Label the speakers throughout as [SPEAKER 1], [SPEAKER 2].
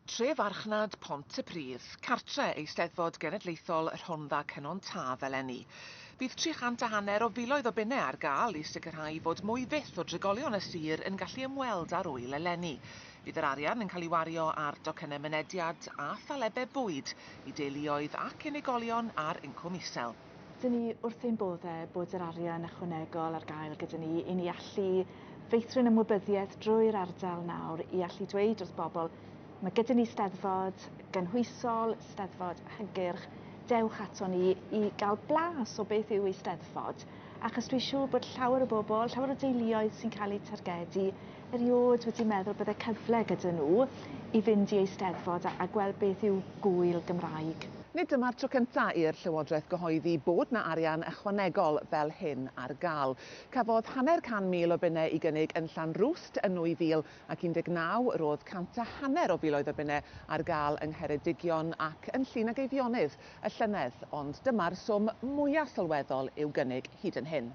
[SPEAKER 1] Tre farchnad Pontypridd, cartre Eisteddfod Genedlaethol y Rhondda Cynon Taf eleni. Bydd tri chant a hanner o filoedd o bunnau ar gael i sicrhau fod mwy fyth o drigolion y sir yn gallu ymweld â'r ŵyl eleni. Bydd yr arian yn cael ei wario ar docynnau mynediad a thalebau bwyd i deuluoedd ac unigolion ar incwm isel. 'Dyn ni wrth ein bodde bod yr arian ychwanegol ar gael gyda ni i ni allu feithrin ymwybyddiaeth drwy'r ardal nawr i allu dweud wrth bobl ma' gyda ni Steddfod gynhwysol, Steddfod hygyrch, dewch ato ni i gael blas o beth yw Eisteddfod achos dwi siŵr bod llawer o bobl, llawer o deuluoedd sy'n cael eu targedu Erioed wedi meddwl bydde cyfle gyda nhw i fynd i Eisteddfod a a gweld beth yw gŵyl Gymraeg. Nid dyma'r tro cyntaf i'r Llywodraeth gyhoeddi bod 'na arian ychwanegol fel hyn ar gael. Cafodd hanner can mil o bunnau i gynnig yn Llanrwst yn 2019, roedd cant a hanner o filoedd o bunnau ar gael yng Ngheredigion ac yn Llŷn ac Eifionydd y llynedd, ond dyma'r swm mwya' sylweddol i'w gynnig hyd yn hyn.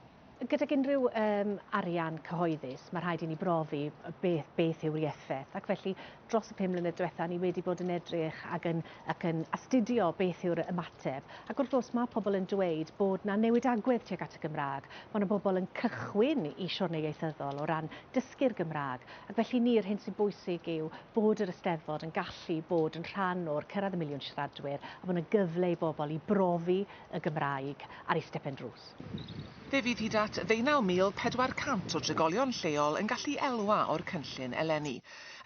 [SPEAKER 1] gydag unrhyw um, arian cyhoeddus, mae rhaid i ni brofi beth, beth yw'r ieffeth. Ac felly, dros y pum mlynedd diwetha, ni wedi bod yn edrych ac yn, ac yn astudio beth yw'r ymateb. Ac wrth gwrs, mae pobl yn dweud bod na newid agwedd tuag at y Gymraeg. Mae yna bobl yn cychwyn i siwrnau ieithyddol o ran dysgu'r Gymraeg. Ac felly ni, yr hyn sy'n bwysig yw bod yr Ysteddfod yn gallu bod yn rhan o'r cyrraedd y miliwn siaradwyr a bod yna gyfle i bobl i brofi y Gymraeg ar ei stepen drws. Fe fydd hyd at ddeunaw mil pedwar cant o drigolion lleol yn gallu elwa o'r cynllun eleni.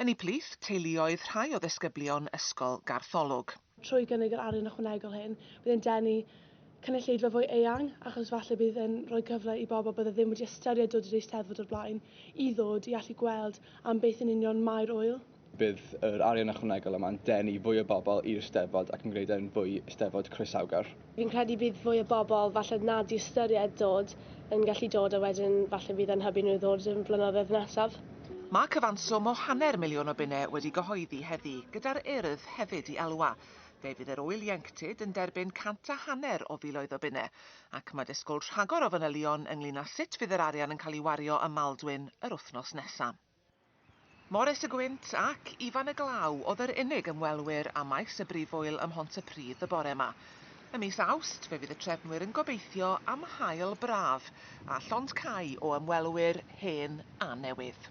[SPEAKER 1] Yn eu plith, teuluoedd rhai o ddisgyblion Ysgol Gartholwg. Trwy gynnig yr arian ychwanegol hyn, bydd e'n denu cynulleidfa fwy eang achos falle bydd e'n rhoi cyfle i bobl bydde ddim wedi ystyried dod i'r Eisteddfod o'r blaen i ddod i allu gweld am beth yn union mae'r ŵyl. Bydd yr arian ychwanegol yma'n denu fwy o bobl i'r Steddfod ac yn gwneud e'n fwy Steddfod croesawgar. Fi'n credu bydd fwy o bobl falle na 'di ystyried dod yn gallu dod a wedyn falle fydd e'n hybu nhw i ddod yn flynyddoedd nesaf. Mae cyfanswm o hanner miliwn o bunnau wedi gyhoeddi heddi, gyda'r Urdd hefyd i elwa. Fe fydd yr ŵyl ieuenctid yn derbyn cant a hanner o filoedd o bunnau, ac mae disgwyl rhagor o fanylion ynglŷn â sut fydd yr arian yn cael ei wario ym Maldwyn yr wythnos nesaf. Morris y Gwynt ac Ifan y Glaw oedd yr unig ymwelwyr â maes y Brifwyl ym Mhontypridd y bore 'ma. Ym mis Awst fe fydd y trefnwyr yn gobeithio am haul braf a llond cau o ymwelwyr hen a newydd.